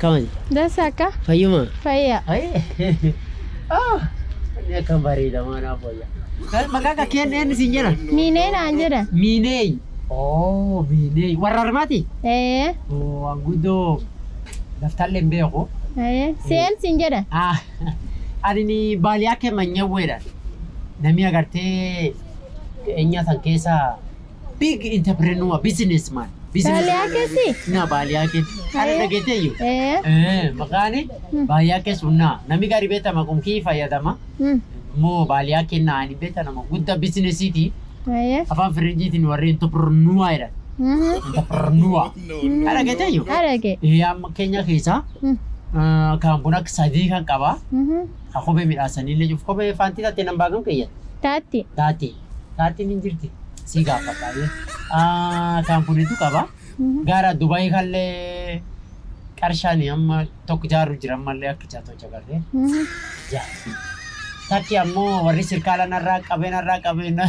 Kamal, Dasi akka fayyuma. fayyaa. Ah, inni akka bareedamaa naaf wayya. Maqaa akka keen eenyu siin jedha? Miinee naan jedha. Miineey. Oo, miineey. Warra armaati? Ee, Oo, waan guddoo daftallee hin beeku. ee, seen siin jedha. Ah, ani ni baaliyaa kee manyawweedha. Namni agartee eenyaa san keessa Big entrepreneur, businessman. Baaliyaa keessi? Naa baaliyaa kee. Kana Ee. dhageetteeyyu? Ee. Ee, maqaani baaliyaa kee sunnaa. Nami gaarii beekama kun kii fayyadama. Hmm. Immoo baaliyaa kee naa hin beekta nama guddaa bizinesiiti. Ee. Afaan Firenjiitiin warri entrepreneur jedhan. Mhm. Entrepreneur. Kana dhageetteeyyu? Arage. Ee, amma keenya keessaa Hmm. ah, kan kun akka sadii kan qaba. Mhm. Ka kophee midhaasanii illee jiru. Kophee faantii taatee nan baagam keeyyata. Taatti. Taati. Kaartiin hin jirti. Sii gaafadha. ye. Ah, kaan kunitu qaba. Gaara Dubai kallee qarshaani amma tokko jaarru jira ammallee akka jaatoo jagarree. Ja. Takki ammoo warri sirkaala narraa qabee narraa qabee na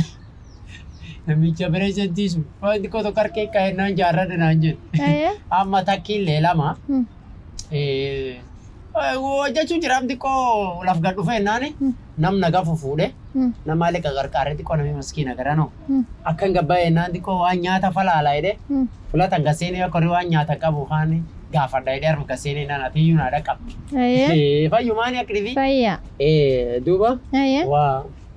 namicha pireezentii sun wanti koo tokko harkee ka'e naan jaarrate naan jedhe. Amma takkiillee lama. Eh, hojjechuu jiraaf xiqqoo laf gad dhufee naani nam na gafu fuudhe nama illee qagarqaaree xiqqoo namni maskiina garanoo akkan gabbaa'ee naan xiqqoo waan nyaata falaalaa jedhee filatan gaseenii akka horii waan nyaata qabu kaan gaafadha jedhee harma gaseenii naan atiyyuu naa dhaqqabdi. Fayyumaani akka dhibii. Fayyaa. Duuba Ayyee. waa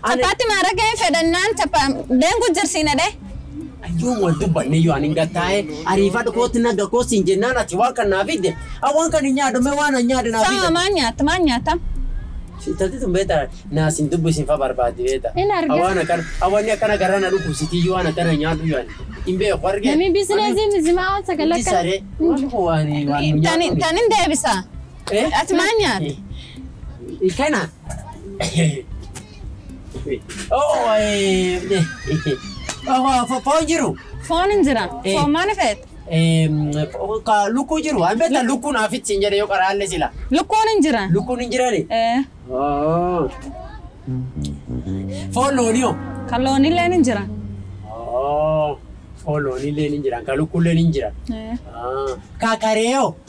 Taphaatti maarageen fedhannaan tapha deengu jirsiina dhee. Yoom wal dubbanne yoo ani gattaa'e ariifadhu kootti naga koo siin jennaan ati waan kan naa fidde waan kan hin nyaadhu mee waan an nyaadhu naa Sama fidde. maan nyaatta maan nyaatta? Intalti tun beeta naa siin dubbu isin fa barbaaddi beeta. Hin argatu. Waan akkan awwanni akkana garaa na dhukkubsitii yoo waan akkana nyaadhu yoo ani hin beeku argee. Namni biizineesii mizimaa waan sagala Itti saree waan waan waan Tani nyaadhu. tani deebisa. Ati maal nyaate? Kana. Oo, eh, eh, fo- foon jiru. Foon hin jira. Eh. Foon maal feet? Eh, fo- ka- Lukkuu jiru. An beektaa lukkuun hafitti hin jedhe yoo qaraalle sila. Lukkuun hin jira. Lukkuun hin jirani. Eh, Oo. Foon loonii hoo? Kan loonilleen hin jira. Oo. Foon loonii illee hin jiran. Ka lukkuun illee hin jiran. Eh, Ah. Ka karee hoo?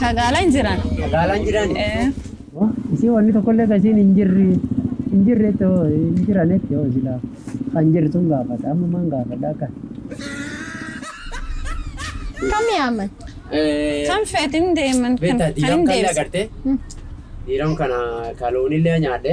Kagaalan jiran. Kagaalan jiran. Isii wanni tokkollee kan isiin hin jirre hin jirretti hoo hin jiranetti hoo silaa kan jirtuun gaafadha amma maan gaafadha akka. Kam yaaman? Kan feetin deeman kan Beektaa kan diiram hin kan deebisa. agartee? Diiram kana kaloonillee nyaadhe.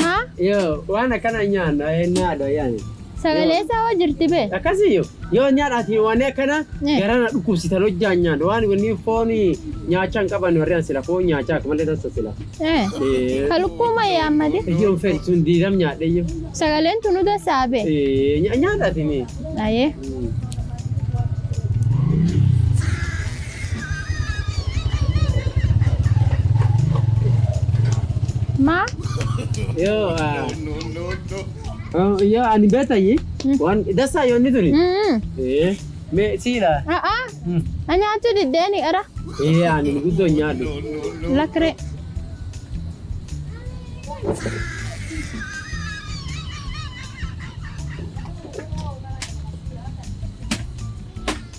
Maa? Yoo waan akkana nyaanna nyaadha yaani. Sagalee isaa hoo jirti bee? Akkasii yoo yoo nyaadhaati waan akkana Eh. garaa na dhukkubsitan hojjaan nyaadha waan wanni foon nyaachaa hin qaban warri an sila foon nyaachaa akka malee tassa sila. Eh. Eh. Ka lukkuu ma yaammate? Ijjoon fedhi sun diidam nyaadhe iyyuu. Sagaleen tunu dassaa bee? Eh, nya- nyaadhaati mee. Ayee. Maa? Yoo ah, oh, yoo ani beetayi waan dasaa yoo inni tuni. Mm. Eh, mee siila. Ah ah. Hmm. Anyaatu diddeeni era. Eh, ani guddoo hin nyaadhu. Lakkire.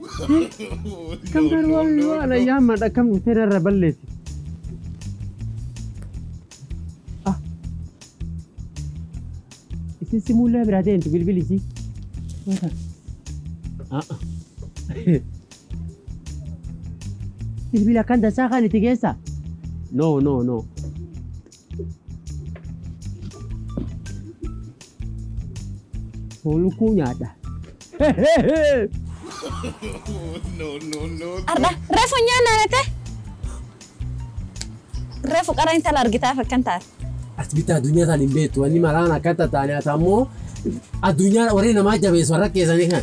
Akkam taate waan waan alayyaa amma dhakkam dhuftee narra balleessi. Ah. Isin si muullee biraa deemtu bilbili isii. Wata. Ah. ah. Bilbila kan tasaa kan itti geessaa? No no no. Foon lukkuu nyaadha. Arda refu nyaanna nete. Refu qara intala argitaaf akkan taate. As bitti addunyaa isaan hin beektu. Wanni maraan akka tattaane ati ammoo addunyaa warri namaa jabeessu warra keessanii kan.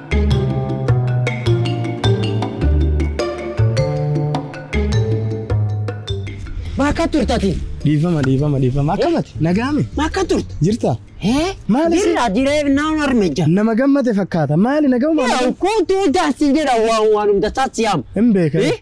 Bakka turtati. Dhiifama dhiifama dhiifama akkamati nagaame Bakka turte. jirta Hee? Maali si- Jirra jireef naan harmeja. nama gammade fakkaata maali nagahuma Yaa kootu daansi jedha waan waan hunda taasiyaam. hin beekan. Eh?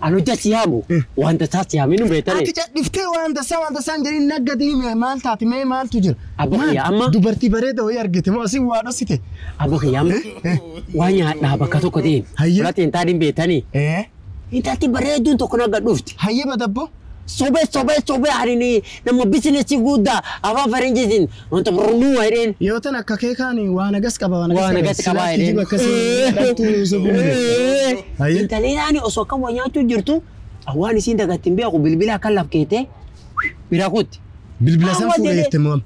An hojja si yaamu waan tasaa si yaaminu beetane. Ati cadhiftee waan tasaa waan tasaa hin jedhin naggati hime maal taate mee maaltu jira? Abba Maal? kiyya amma. Dubartii bareeda wayii argite moo asin waa dhossite? Abba kiyya amma. Waan nyaadhaa bakka tokko deemi. Hayyee. Fudhatiin taa hin beetani. Ee Intalti bareedduun tokko nagga dhufti. hayyee badabbo. Sobee sobee sobee ani ni nama bisinesi guddaa afaan faranjiitiin Wanta burrumuu waa jedheen. Yoo tan akka kee kaan waa nagas qaba waa nagas Waa qaba. nagatti Silaa qabaa jedheen. kijiba akkasii hin dhaltuu Yuusuf hin beektu. Haye. Intalii naani osoo akkam waa nyaachuu jirtu an waan isiin dagatti hin beeku bilbila akkan laf keete bira kutti. Bilbila san Amma fuudhee jedhee- jette mo'am.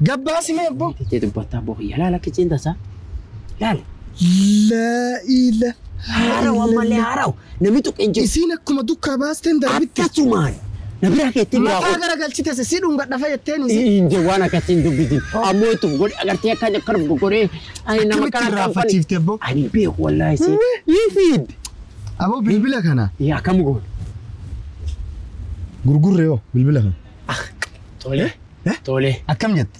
Gabbaasi mee abboo. Jettee dubbattaa boo kiyya laala kichiin tasaa. Laala. La ila. Haarawa ammallee haarawa. Nami tuqe hin jiru. Isiin akkuma dukkaa baasteen darbitte. Akkasumaan na biraa keettee biraa Mataa koo. gara galchitese si dhungadha fa jetteen isiin. Hin je waan akkasii hin dubbisin. Ammoo itti of godhe agartee akka akka of godhee. Ani nama Akkamitti kana irraa kan fachiifte abbo? Ani beeku wallaahi si. Ii fiid. Aboo bilbila kana Yaa kam goone. gurgurre yoo bilbila kana. Tole. Tole. Akkam jette?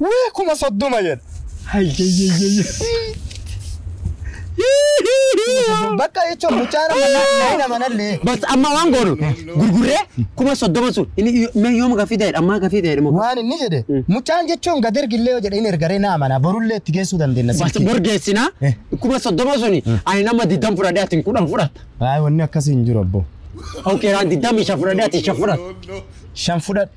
Wii kuma soddoma jedha. Bakka jechuun mucaan amma na- na hin amanallee. Bas amma waan goonu gurgurree kuma soddoma sun inni mee yooma gafii ta'edha ammaa gafii ta'edha moo. Waan inni jedhe mucaan jechuun gad ergillee yoo jedhe hin ergaree na amana borullee itti geessuu dandeenya. Bas silkii. borgeessinaa Eh. kuma soddoma suni ani nama digdam fudhadhee atin kudhan fudhatta. Waayee wanni akkasii hin jiru abboo. Okee raan digdam isha fudhadhee ati isha fudhatta. Shan fudhadhe.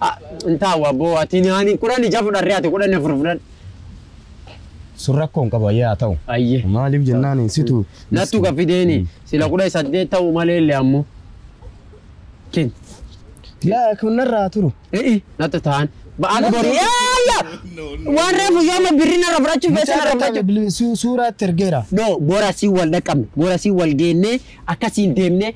Ah, intaa waa boo ati naani kudhan ija fudharree ati kudhan afur fudhan. Sun rakkoo hin qabu ayyee haa ta'u. Ayyee. Maaliif jennaan situ. Nattu ka fideeni sila kudhan saddeet ta'uu malee illee ammoo. Kin. Yaa kun narraa turu. E'i natta ta'an. Ba'aan bori. Yaa yaa. Waan reefu yoo amma birri narra fudhachuuf feesee narra fudhachuuf. Suuraatti ergeera. No, bora si wal dhaqqabne, bora si wal geennee akkasiin deemnee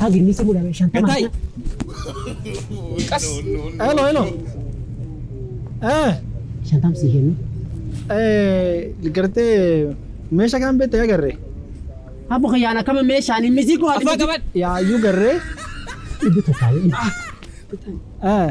Hagni si mudame shantama. Gatai. Kas. Hello, hello. Eh, Shantam si kennu. eh, gartee meesha kan beekte yaa garree. Abbo kiyyaan akkama meeshaan hin misiiku ati. Afaa qaban. Yaa iyyuu garree. Dhibbi tokko. Eh,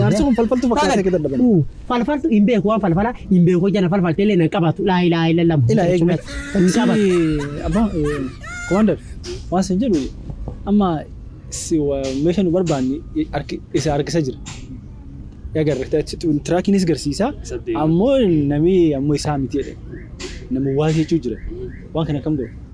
Jaarsi kun falfaltuu fakkaata akka dadhaban. Falfaltu hin beeku waan falfala hin beeku jana falfalte illee nan qabatu laa ilaa ila lama. Ila eegme. Hin qabatu. Abbaa komaandar waan sin jedhu amma si wa- meesha nu barbaanne arki- isa harkisa jira. Yaa garre tiraakiinis garsiisa ammoo namni ammoo isaa miti jedhe. Nama waa jechuu jira. Waan kana kam godhu?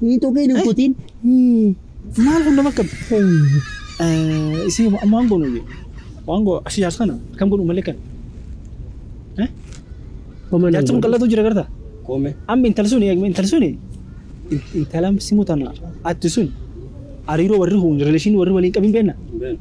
Hin tuqiin hin kutiin. Maal kun nama qabdi? Isin waan goonu iyyuu. Waan goonu asii jaarsa kana kam godhu malee kan. Homa nan Jaarsa kun godhu. qal'atu jira garta. Koome. Amma intala sun intala sun intala simu tana atti sun hariiroo warri kun rileeshinii warri waliin qabin beekna.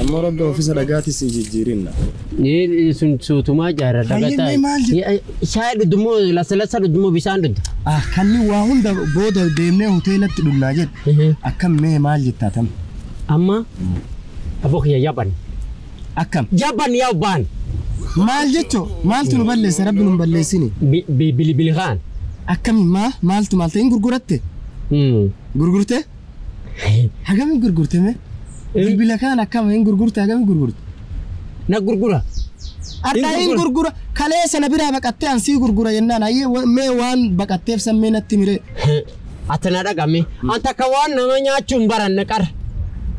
Amma rabbi ofiisa dhagaati si jijjiirinna. Ni sun suutumaa jaarra Hayyee, dhagataa. mee maal jedhu? Shaayii dhudhumoo lasalasa dhudhumoo bishaan dhudhu. Ah, kanni waa hunda booda deemnee hoteelatti dhunnaa jedhe. Akkam mee maal jettaa tam? Amma aboo kiyya yaban. Akkam? Yaban yaa baan. Maal jechoo? Maaltu nu balleessa? Rabbi nu hin balleessini. Bilibili kaan. Akkami maa? Maaltu maal ta'e? Hin gurguratte? Gurgurtee? Hagami gurgurte me? Bilbila kaan akkama hin gurgurte hagami gurgurte? Na gurgura. Addaa hin gurgura kalee sana biraa baqattee an sii gurgura jennaan hayyee wa- mee waan baqatteef san mee natti miree. Ati na dhagami. An takka waan nama nyaachuu hin baranne qar.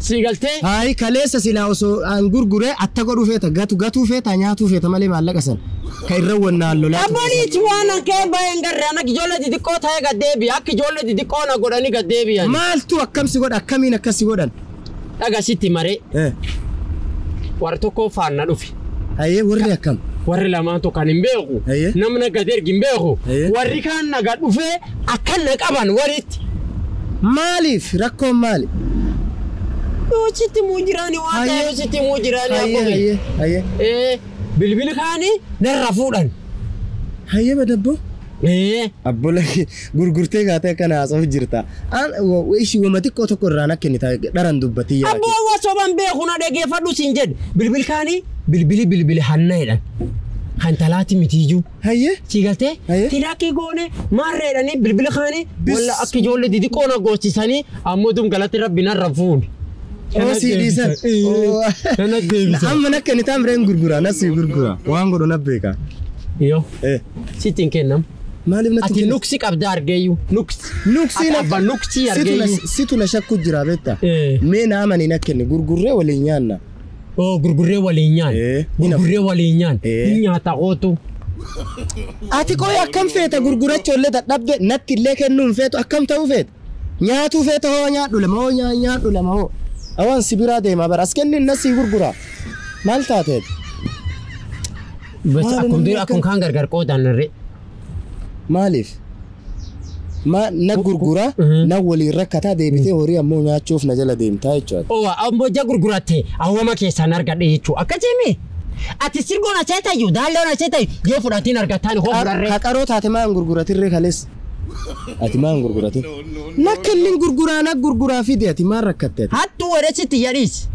Sii galtee? Hayi kaleessa silaa osoo an gurguree atta godhuu feeta gatu gatuu feeta nyaatuu feeta malee maallaqa sana. ka irra wannaan lolaa ture Abboon itti waan hankee baay'ee hin garre ana ijoollee xixiqqoo ta'ee gad deebi'e akka ijoollee xixiqqoo na godhanii gad deebi'an. maaltu akkam si godha akkamiin akkas si godhan Dhaga sitti maree Eh, warra tokkoo faana dhufe. hayyee warri akkam Warri lamaan tokko kan hin beeku. Eeyyee. Namni akka ergi hin beeku. Eeyyee. Warri kaan naga dhufee akka na qaban walitti. maaliif rakkoon maali Yoo sitti muu jiraani waan Hayyee. ta'eef sitti muu jiraani hayyee abboon. hayyee hayyee Ee. Bilbili kaani narra fuudhan. Hayyama dabboo? Ee. Abbo laki gurgurtee kaatee akkana haasa'u jirta. An ishi wama xiqqoo tokko irraa na kennita dharan dubbatti yaa Abbo wa soban beeku na dhageeffadhu sin jedhe. Bilbili kaani bilbili bilbili hanna jedhan. Kan talaati mitiiju. Hayyee. Sii galtee? Hayyee. Piraakii goone maarree jedhanii bilbila kaanii walla akka ijoollee didiqqoo na goochisanii ammoo dum galatti rabbi narra fuune. Oo sii dhiisan. Oo. Nana deebisa. Amma nakka inni taan bireen gurgura nas sii gurgura waan godhu na beeka. Yoo Eh sitti hin kennamu. maaliif natti Ati nuksi qabda argeeyyu nuksi. Nuksii Ati abba nuksii argeeyyu. situ na shakku jira beekta. Eh. Mee naa manii na kenni gurgurree waliin nyaanna. Oo gurgurree waliin nyaan. Ee, Gurgurree waliin nyaan. Ee. Hin nyaata kootu. Ati qoy akkam feeta gurgurachuu illee dadhabde natti illee kennuu hin feetu akkam ta'uu feeta? Nyaatuu feeta hoo nyaadhu lama hoo nyaa- nyaadhu lama hoo. Awaan si biraa deemaa bara as kenni innas sii gurguraa. Maal taateet? Bas Maali akkuma namni dura akka- akkuma kaan gargar qoodaan narree. Maaliif? Maa na gurgura na waliin rakkata deebitee horii ammoo nyaachuuf na jala deemta jechuu ati. Owa ambo ija gurguratte awwama keessaan argadhe jechuu akkasii mii? Ati sirgoo na seetayyu daalloo na seetayyu yoo fudhatiin argattaani hoo fudharree. Ka qaroo taate maa hin gurguratirree kaleessa? Ati maa hin gurguratin? Na kennin gurguraa na gurguraa fidi ati maa rakkatte ati? Hattuu waressi tiyya dhiisi.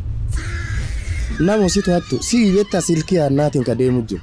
Namo situ hattu sii betta silkii hannaatiin ka deemu jiru.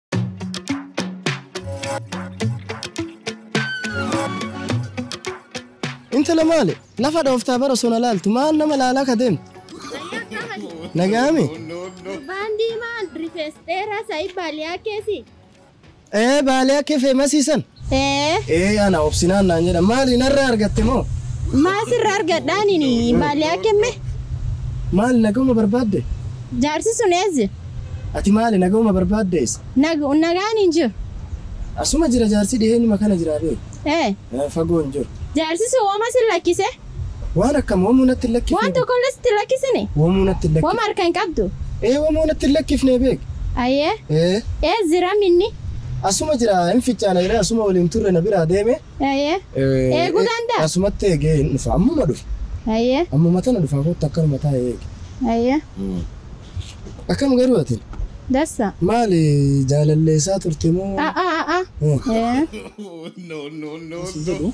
Intala maale lafa dhooftaa bara osoo na laaltu maal nama laalaa ka deemtu nagaame Gurbaan diimaan rifees dheeraa sa'ii baaliyaa keessi. ee baalee akka feemasiisan Ee. Ee ana obsinaan naan jedhan maali narraa argatte moo? Maa sirra argadha anini maali akke me. Maali nagauma barbaadde? Jaarsi sun eessa? Ati maali nagauma barbaadde eessa? Nag nagaan hin jiru. Asuma jira jaarsi dhiheenuma kana jira bee. Ee. Fagoo hin jiru. Jaarsi sun woma si lakkise? Waan akkam homuu natti hin lakkifne. Waan tokkollee sitti hin lakkisine? Womuu natti hin lakkifne. Woma harka hin qabdu? Ee womuu natti hin lakkifne beek. Ayee. Ee. Ees jira minni? Asuma jira hin ficcaana jedhee asuma waliin turre na biraa deeme. Ayee. Eeguu danda'a? Asumatti eegee hin dhufa ammuma dhufa. Ayee. Ammuma tana dhufaa kottu akkanuma taa'ee eegi. Ayee. Akkam garuu ati? Dassa. Maali jaalalleessaa turte moo? A'aa a'aa. Ee. Ee. Jedhu.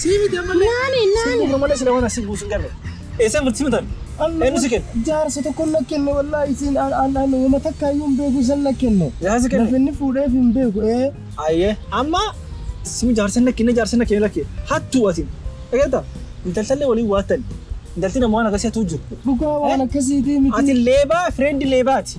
Sii miti ammallee. Naani, Siin naani. gurra malee sila waan asiin buusu hin garre. Eessan murtii mutan? Eenyu si kenne? Jaarsa tokko na kenne wallaahi isiin an an an wama takka iyyuu hin beeku isan na kenne. Jaarsa si kenne? Lafa inni fuudheef hin beeku ee. Ayyee amma sima jaarsa na kenne jaarsa na kenne lakke hattuu asin. Dhageetta? Intaltallee waliin waattani. Intalti nama waan akkasii hattuu jiru. Dhugaa waan akkasiitii miti. Ati leebaa fireendi leebaati.